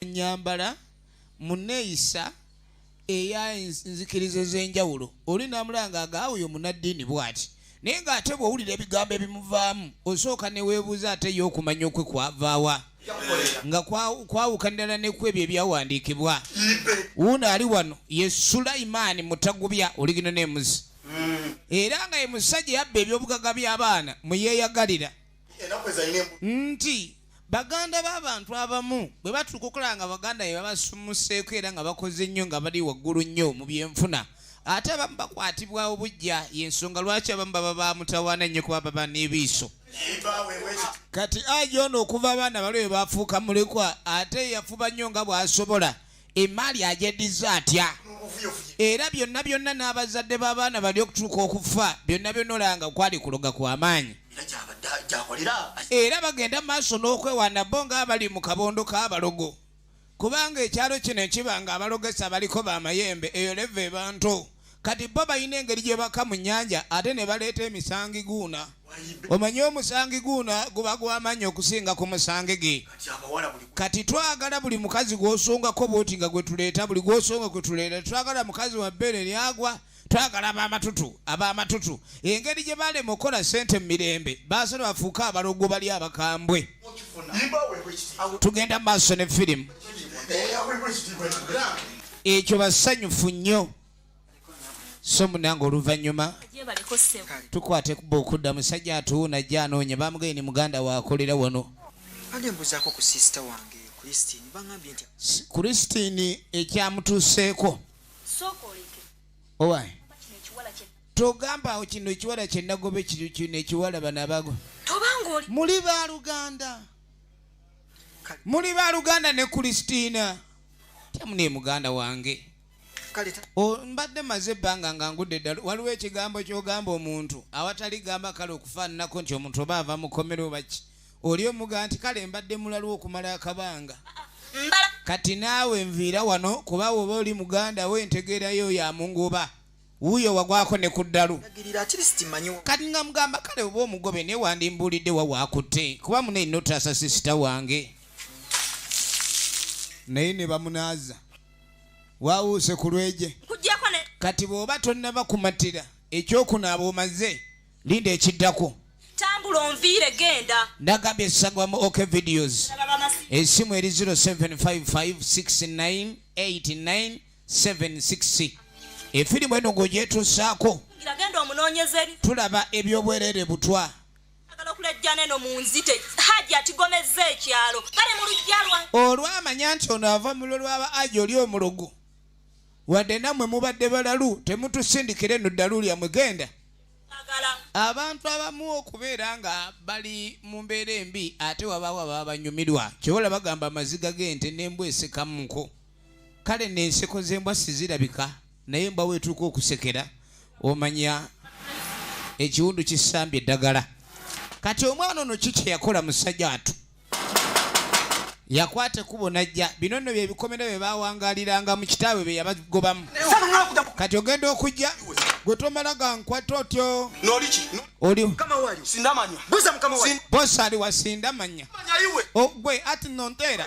nyambala muneeyisa eya nzikiriza ez'enjawulo oli namulanga agaawoyo munaddiini bwati naye ng'ate bw'owulira ebigambo ebimuvaamu osooka neweebuuza ate ye okumanya okwe kwavaawa nga kwawuka ddala neku ebyo ebyawandiikibwa wuuno ali wano ye sulayimaani mutagubya oligino nemuzi era nga ye musajja yabba ebyobugaga by'abaana muyeeyagalira nti baganda b'abantu abamu bwe batuuka okulaba nga baganda be babasumuseeko era nga bakoze nnyo nga bali waggulu nnyo mu byenfuna ate abamu bakwatibwa obujja yensonga lwaki abamu baba bamutawaana nnyo kuba baba n'ebiiso kati aja ono okuva abaana bali we bafuuka mulekwa ate yafuba nnyo nga bw'asobola emaali agyeddiza atya era byonna byonna n'abazadde b'abaana bali okutuuka okufa byonna byonna olanga kwali kuloga kwa maanyi era bagenda maaso n'okwewaana bo ng'abali mu kabondo k'abalogo kubanga ekyalo kino ekiba ng'abalogesa baliko b'amayembe eyo leva ebantu Kati bo balina engeri gye baka mu nnyanja ate ne baleeta emisangi guuna. Omanyi omusangi guuna guba gw'amaanyi okusinga ku musangi ge. Kati twagala buli mukazi gw'osongako bwoti nga gwe tuleeta buli gw'osonga kwe tuleeta twagala mukazi wa bbeere lyagwa twagala ab'amatutu ab'amatutu engeri gye balema okukola ssente mu mirembe baasala bafuuke abaloggo bali abakambwe tugenda mu maaso ne firimu ekyo basanyufu nnyo so munange oluvannyuma tukwate kuba okudda musajja atuwuna ajja anoonya bamugee ni muganda waakolera wano kristini ekyamutuuseeko owaye togambawo kino ekiwala kyenagobe kino ekiwala banabago muli baluganda muli baluganda ne kulisitiina tyamu naye muganda wange mbadde maze ebbanga nga ngudde ddala waliwo ekigambo kyogamba omuntu awatali gamba kale okufaananako nti omuntu oba ava mukomero baki oli omuga nti kale mbadde mulaliwo okumala akabanga kati naawe nviira wano kuba woba oli muganda we ntegeerayo oyo amunguba wuuyo wagwako ne ku ddalu kati nga mugamba kale oba omugobe naye wandimbuulidde wa waakutte kuba mune notaasa sisita wange naye ne bamunaaza wawuuse ku lweje kati bw'oba tonnaba kumatira ekyokunaaba omaze linda ekiddako tambula onviire genda nagambye esagwa mu ok videos esimu eri 07556989 76 efirimu eno ng'ogyetuusaako tulaba ebyobwerere butwa olwamanya nti ono ava mu lwo lwaba aja oli omulogo wadde nammwe mubadde balalu temutusindikira eno ddalu lyammwe genda abantu abamu okubeera nga bali mu mbeera embi ate wabaawo ababa banyumirwa kyewola bagamba amaziga g'ente n'embwa esekamuko kale nenseko zembwa sizirabika naye mba wetuuka okusekera omanya ekiwundu kisambye eddagala kati omwana ono ki kyeyakola musajja watu yakwata ekubo najja bino nno byebikomera bye bawangaliranga mu kitaabwe bye yabagobamu kati ogenda okujja gwe tomala gankwata otyo bosa ali wasindamanya ogwe ati nonteera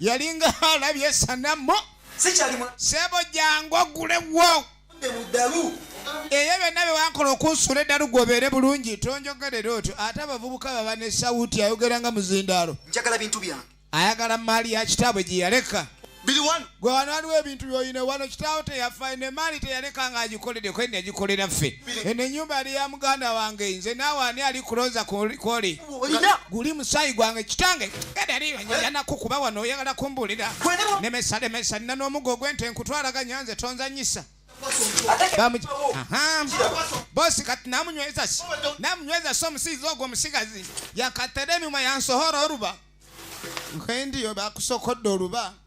yalinga alabye esanamu sebo jangu ogulewo eyo byonna byewankola okunsuula eddalu gwobeere bulungi tonjogerera otyo ate abavubuka baba ne sawuti ayogera nga muzindaalo ayagala maali ya kitaabwe gye yaleka gwe wano waliwo ebintu byoyina wano kitaawo teyafa eno emaali teyaleka nga agikolede kwe nagikolera ffe eno enyumba yali ya muganda wange nze naawe ani ali kuloza kwoli guli musaayi gwange kitange gadaliyanaku kuba wano oyagala kumbulira nemesa lemesa nina n'omugo ogwente nkutwalaganya nze tonzanyisa bosi kati namunyweza si namunyweza si omusizi ogwo omusigazi yakateremimwa yansohora oluba nkwendiyo bakusokodde oluba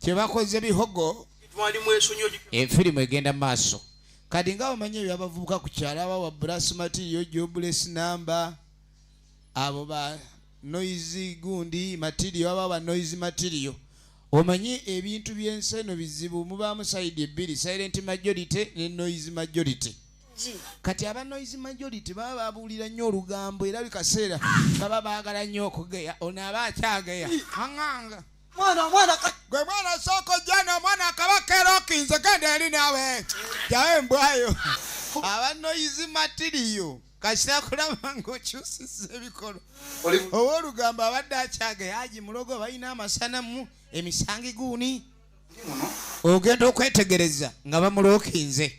kyebakoze bihogo efirimu egenda mu maaso kati nga bamanyi ebyo abavubuka ku kyalo aba wa brasmatiyo jobles namba abo ba noise gundi matirio aba ba noise matirio omanyi ebintu byensi eno bizibu mubaamu sayidi ebbiri silent majority ne noise majority kati aba noise majority baba babuulira nnyo olugambo era bikaseera baba baagala nnyo okugeya ono aba akyageya aŋanga mwana mwana gwe mwana soko jana mwana kabaka era okinze genda eri nawe jawe mbwayo abanoyizi matiriyo kasita kulaba ngaokyusiza ebikolo oba olugambo abadde akyaga yaji mulogo balina amasanamu emisangi guuni ogenda okwetegereza nga bamulokinze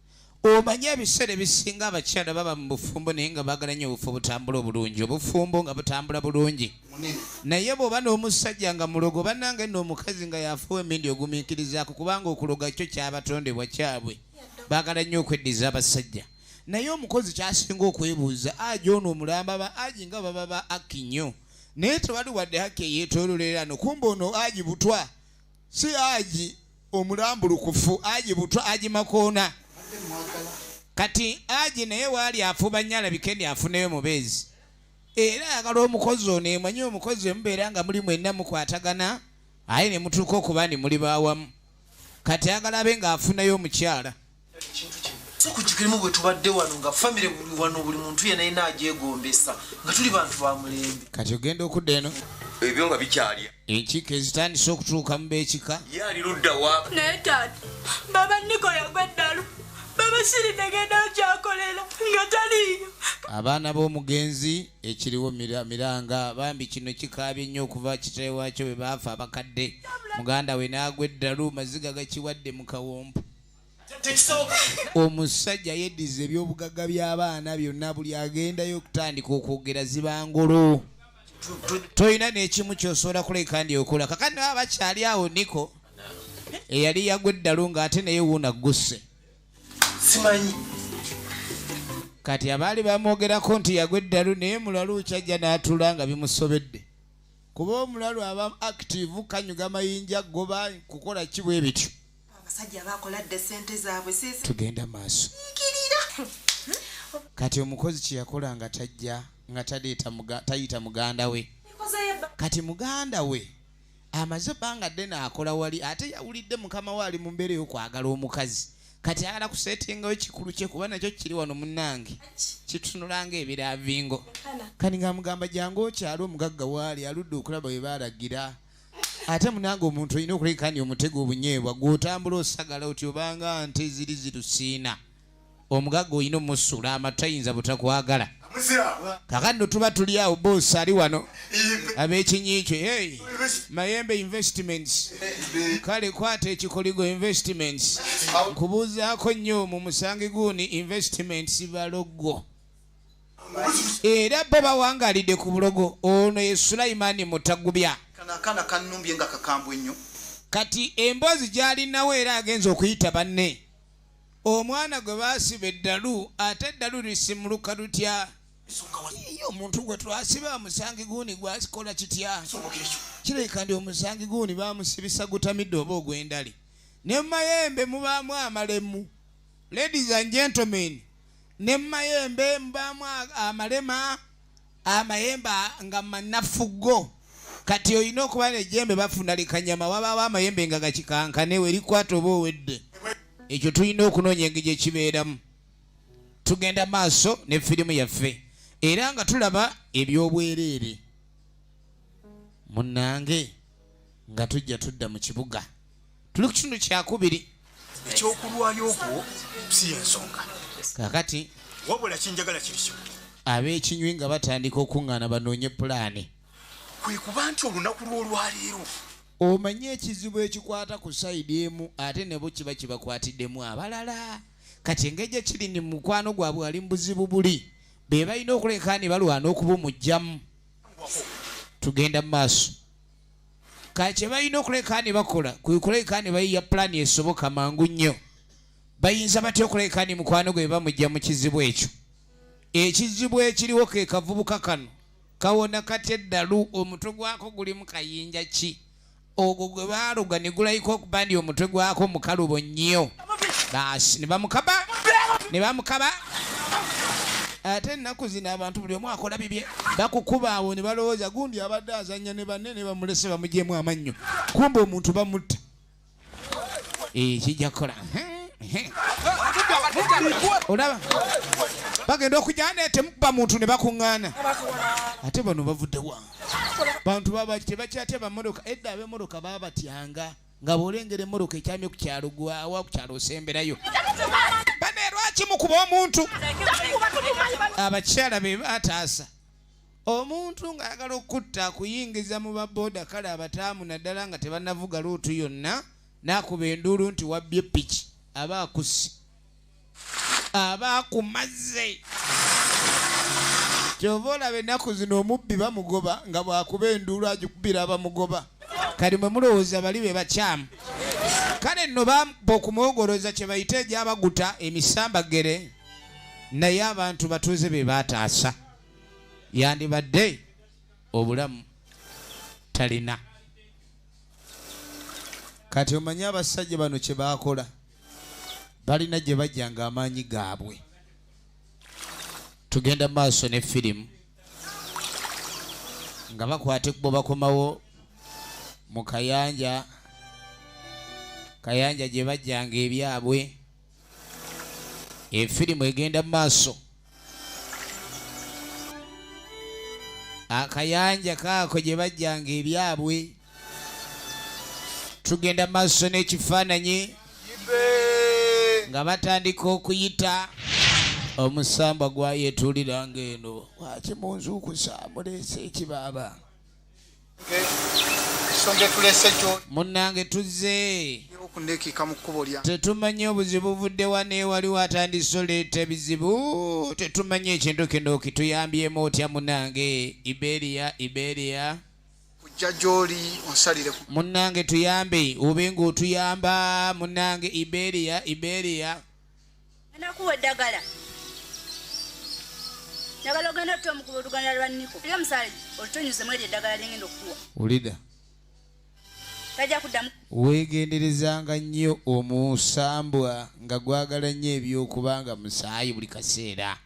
Omanyi ebiseera ebisinga abakyala baba mu bufumbo naye nga baagala nnyo obufo butambula obulungi obufumbo nga butambula bulungi naye bw'oba n'omusajja nga mulogo bannange nno omukazi nga yafuwa emindi ogumiikirizaako kubanga okuloga kyo kyabatondebwa kyabwe baagala nnyo okweddiza abasajja naye omukozi kyasinga okwebuuza aji ono omulamba ba aji nga baba ba aki nnyo naye tewali wadde haki eyeetololera no kumba ono aji butwa si aji omulambulukufu aji butwa aji makoona kati aji naye waali afuba nnyo alabike ni afuneyo mubeezi era ayagala omukozi ono emanyi omukozi emubeera nga muli mwenna mukwatagana aye ne mutuuka okuba ni muli bawamu kati ayagala abe ng'afunayo omukyala sikukikirimu bwe tubadde wano nga famire buli wano buli muntu yena yena agyegombesa nga tuli bantu ba mulembe kati ogenda okudda eno ebyo nga bikyalya enkiiko ezitandise okutuuka mu beekika yaali luddawa naye taata baba niko yagwa eddalu baba siri negenda okyakolera nga taliiyo abaana b'omugenzi ekiriwo miranga bambi kino kikaabye nnyo okuva kitale waakyo bwe baafa abakadde muganda we naagwa eddalu maziga gakiwadde mu kawompo omusajja yeddiza ebyobugagga by'abaana byonna buli agendayo okutandika okwogera zibangulu tolina n'ekimu kyosobola kuleka ndi okola kakati naba bakyali awo niko eyali yagwa eddalu ng'ate naye wuuna ggusse simanyi kati abaali bamwogerako nti yagwa eddalu naye mulalu kyajja n'atula nga bimusobedde kuba omulalu aba active kanyuga mayinja goba kukola kibwa ebityo abasajja bakola dda sente zaabwe tugenda maaso kati omukozi kyeyakola nga tajja nga tayita muganda we kati muganda we amaze ebbanga ddene akola wali ate yawulidde mukama we ali mu mbeera ey'okwagala omukazi kati ayagala kusetingayo kikulu kye kuba nakyo kiri wano munange kitunulanga ebiravingo kani nga mugamba jangu okyalo omugagga waali aludde okulaba we baalagira ate munange omuntu olina okulekani omutego obunyeebwa gwotambula osagala oti obanga nte ziri zirusiina omugaga olina omusula amatayinza butakwagala kakati no tuba tuli awo boosi ali wano abekinyikyo hey, mayembe investments kale kwata ekikoligo investments nkubuuzaako nnyo mu musangi guuni investments balogwo era bo bawangalidde ku bulogo ono ye sulaimani mutagubya kanakana kanumbye nga kakambwe nnyo kati emboozi gyalinawo era agenza okuyita banne omwana gwe basiba eddalu ate eddalu lisimuluka lutya ye omuntu gwe twasiba omusangi guuni gwakikola kitya kirabika ndi omusangi guuni bamusibisa gutamidde oba ogw'endali ne mu mayembe mubaamu amalemu ladies and gentlemen ne mu mayembe mubaamu amalema amayembe nga manafuggo kati olina okuba nejembe bafuna likanyama wabaawo amayembe nga gakikankane werikwata oba owedde ekyo tulina okunoonya engeri ekibeeramu tugenda maaso ne firimu yaffe era nga tulaba ebyobwereere munange nga tujja tudda mu kibuga tuli ku kitundu kyakubiri ekyokulwayo okwo si yensonga kakati wabula kinjagala kiri kimu ab'ekinywi nga batandika okuŋŋaana banoonye pulaani kwe kuba nti olunaku lw'olwaleero omanyi ekizibu ekikwata ku sayidi emu ate nebo kiba kibakwatiddemu abalala kati engeri gye kiri ni mukwano gwabwe ali mu buzibu buli be balina okuleka ne balwana okubumugyamu tugenda mu maaso ka kye balina okuleka ne bakola kwe kuleka ne bayiya pulaani esoboka mangu nnyo bayinza batya okuleka ni mukwano gwe bamujja mu kizibu ekyo ekizibu ekiriwo ke kavubuka kano kawona kati eddalu omutwe gwako guli mu kayinja ki ogwo gwe baaluga ne gulayika okuba ndi omutwe gwako mukalubo nnyo basi nebamukaba nebamukaba ate ennaku zino abantu buli omu akola bibye bakukuba awo ne balowooza gundi abadde azanya ne banne ne bamulese bamugyemu amannyo kumba omuntu bamutta eh, kijja kukola olaba bagenda okujja netemukuba muntu ne bakuŋŋaana ate bano bavuddewa bantu babaki tebakyatya bamotoka edda abemotoka babatyanga nga bw'olengera emmoroka ekyamye ku kyalo gwawa ku kyalo osemberayo bane lwaki mukuba omuntu abakyala be bataasa omuntu ng'ayagala okukutta akuyingiza mu baboda kale abataamu naddala nga tebanavuga luutu yonna n'akuba enduulu nti wabbye piki aba akusi aba akumaze kyova olaba ennaku zino omubbi bamugoba nga bwakuba enduulu agikubira abamugoba kati mwe mulowooza bali be bakyamu kale nno bamba okumwogoloza kye bayita egyabaguta emisambagere naye abantu batuuze be baataasa yandibadde obulamu talina kati omanyi abasajja bano kye baakola balina gye bajja nga amaanyi gaabwe tugenda maaso ne firimu nga bakwata ekkubo bakomawo mu kayanja kayanja gye bajjanga ebyabwe efirimu egenda mu maaso akayanja kaako gye bajjanga ebyabwe tugenda maaso n'ekifaananyi nga batandika okuyita omusambwa gwayetuuliranga eno waki munzuukusa muleese ekibaaba munnange tuzze tetumanyi obuzibu buvuddewa naye waliwo atandise oleeta ebizibu tetumanyi ekintu kino kituyambyemu otya munnange iberia iberia kujja gyoli onsalire munnange tuyambe obe ngaotuyamba munnange iberia iberia Anakuwa eddagala. Njagala ogenda otta omukuba oluganda lwa Niko. Lyo omusaali olutonyuze mweri eddagala lyengenda okukuwa. Ulida. Tajja kuddamu. Weegenderezanga nnyo omusambwa nga gwagala nnyo eby'okuba nga musaayi buli kaseera.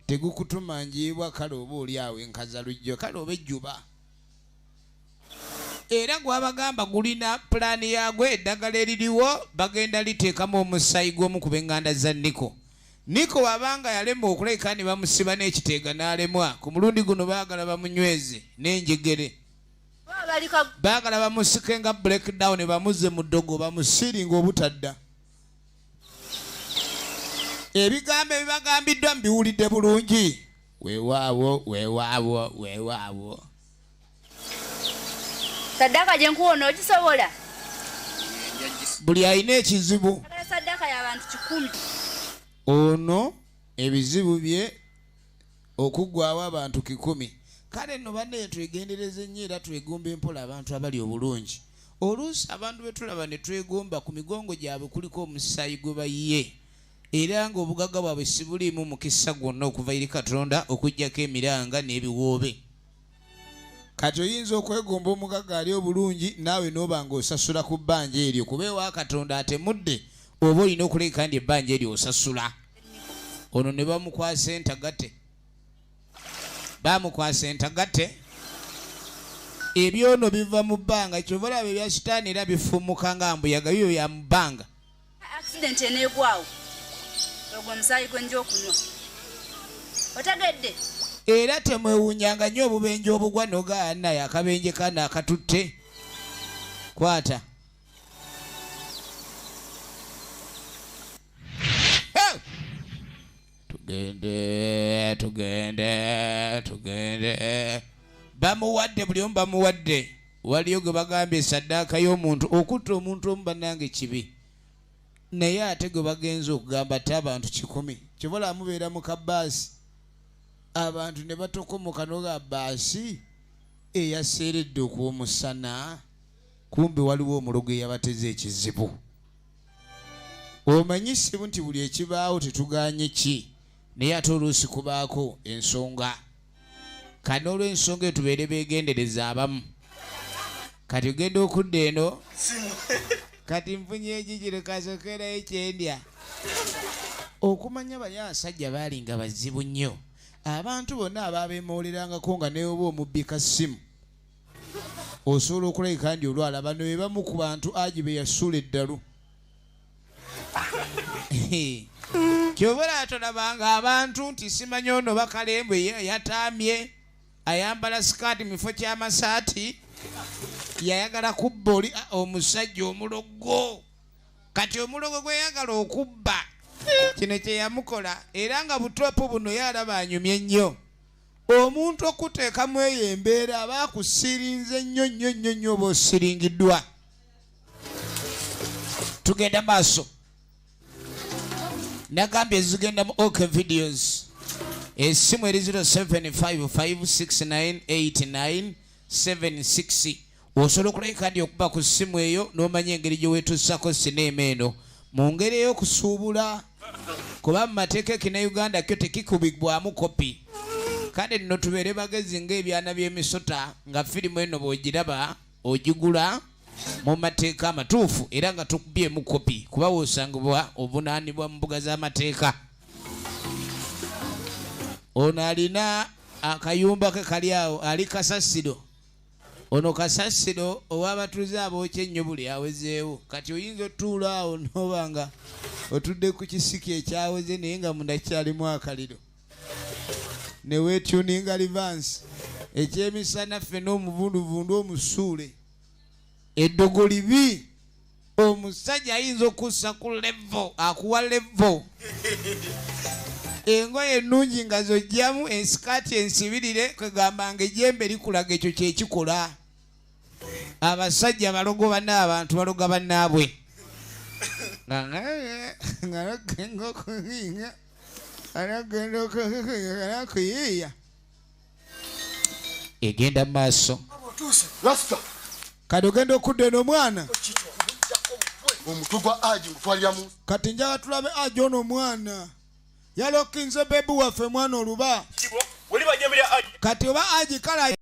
Tegukutuma njiibwa kale oba oli awo enkaza lujjo kale oba ejjuba. era gwabagamba gulina pulaani yaagwo eddagala eririwo bagenda liteekamu omusaayi gw'omu ku benganda za niko niko wabanga yalemwa okuleka ne bamusiba n'ekiteega n'alemwa ku mulundi guno baagala bamunyweze n'enjegere baagala bamusike nga blackdown bamuzze mu ddogo bamusiringa obutadda ebigambo ebibagambiddwa mbiwulidde bulungi Weewaawo, weewaawo, weewaawo. Saddaaka gye nkuwa onoogisobola? Buli alina ekizibu. Saddaaka y'abantu kikumi. Ono ebizibu bye okuggwawo abantu kikumi. Kale nno bannaye twegendereze nnyo era twegomba empola abantu abali obulungi. Oluusi abantu be tulaba ne twegomba ku migongo gyabwe kuliko omusaayi gwe bayiye. era ng'obugagga bwabwe sibuliimu mukisa gwonna okuva eri katonda okuggyako emiranga n'ebiwoobe kati oyinza okwegomba omugagga ali obulungi naawe n'oba ng'osasula ku bbanja eryo kuba ewa katonda atemudde oba olina okuleka ndi ebbanja eryo osasula ono ne bamukwasa entagate bamukwasa entagate ebyono biva mu bbanga kyova olaba ebya sitaani era bifumuka nga mbuyaga biyo bya mu bbanga accident enegwawo ogwo omusaayi gwenja okunywa otegedde era temwewunyanga nnyo obubenje obugwa nogaana akabenje kano akatutte kwata tugende tugende tugende bamuwadde buli omu bamuwadde waliyo gwe bagambye saddaaka y'omuntu okutta omuntu omu bannange kibi naye ate gwe bagenza okugamba ate abantu kikumi kyobola amubeera mu kabaasi abantu ne batokomoka noga baasi eyaseeredde okwomusana kumbe waliwo omulogo eyabateza ekizibu omanyi sibu nti buli ekibaawo tetuganye ki naye ate oluusi kubaako ensonga kati n'olwensonga eyo tubeere begendereza abamu kati ogenda okudda eno kati nfunye ekikiro kasokerayo ekyendya okumanya bali abasajja baali nga bazibu nnyo abantu bonna abaabemowolerangako nga neoba omubbi ka ssimu osobola okulabika ndi olwalaba noebamu ku bantu agi beyasuula eddalu kyobera tolabanga abantu nti simanyi ono bakalembu yatamye ayambala sikaati mufo kyamasaati yayagala kubba oli ah, omusajja omulogo kati omulogo gweyagala okubba kino kyeyamukola era nga butopu buno yalaba anyumye nnyo omuntu okuteekamu eyo embeera aba akusirinze nnyo nnyo nnyo nnyo oba osiringiddwa tugenda maaso nagambye zigenda mu ok videos esimu eri 0755698976 osobola okulayo kandi okuba ku simu eyo n'omanya engeri gye weetuusako sineema eno mu ngeri ey'okusuubula kuba mu mateeka ekina uganda kyo tekikubibwamu kopi kale nno tubeere bagezi ng'ebyana by'emisota nga firimu eno bw'ogiraba ogigula mu mateeka amatuufu era nga tukubyemu kopi kuba wosangibwa obunaanibwa mu mbuga z'amateeka ono alina akayumba ke kali awo ali kasasiro ono kasasiro owabatuuze abookya ennyo buli awezeewo kati oyinza otuula awo noba nga otudde ku kisiki ekyaweze naye nga mundakyalimu akaliro ne weetuninga livansi ekyemisana ffe n'omuvunduvundu omusuule eddogo libi omusajja ayinza okussa ku levo akuwa levo engoye ennungi nga zojjamu ensikaati ensibirire kwegamba nga ejembe likulaga ekyo kyekikola abasajja balogo bana abantu baloga banaabwe nga egenda mu maaso kati ogenda okudda eno omwana kati njaga tulabe aji ono omwana yalokinze bebi waffe mwana oluba kati oba aji kala